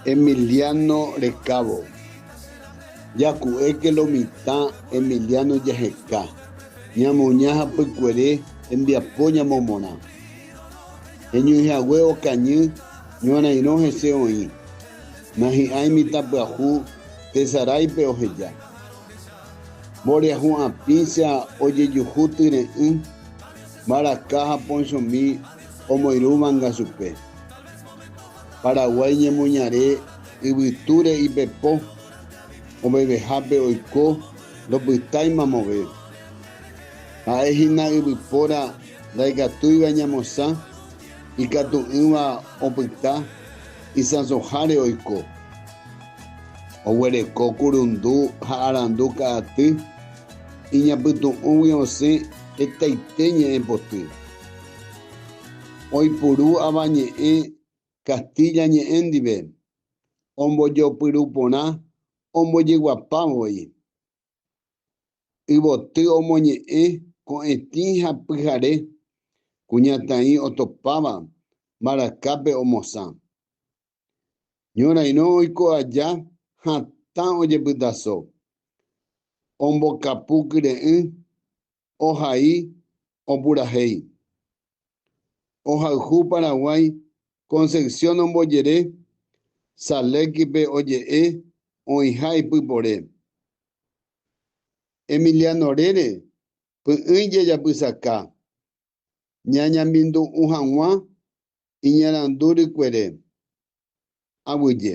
Emiliano rekávo. Jaku'éke lo mitã Emiliano jaheka, ñamoña ha pykuere hembiapo ñamomorã. Heñoihague okañy ñorairõ hese oĩ, nahi'ãi mitãpyahu tesaráipe oheja. Mboriahu'ãpícha ojejuhu tyre'ỹ, mbaraka ha ponchomi. omoirũvanga chupe. Paraguái ñemoñare yvytúre ipepo ovevehápe oiko ndopytáimamove. Ha'e hína yvypóra ndaikatúiva ñamosã ikatu'ỹva opyta isãsoháre oiko. Oguereko kurundu ha arandu ka'aty iñapytu'ũgui osẽ hetaite ñe'ẽpoty. Oipuru Avañe'ẽ Castilla ñe'ẽ ndive, ombojopyru porã ombojeguapa voi. Yvoty omoñe'ẽ ko'ẽtĩ ha pyhare, kuñataĩ otopáva mbarakápe omosã. Ñorairõ oiko aja hatã ojepytaso, ombokapu kyre'ỹ ohai opurahéi. Ohayhu Paraguái Concepción ombojere Salekipe oje'e oĩha ipypore. Emiliano rére py'ỹi jajapysaka ñañambindu'ũ hag̃ua iñarandu rykuere. Aguyje.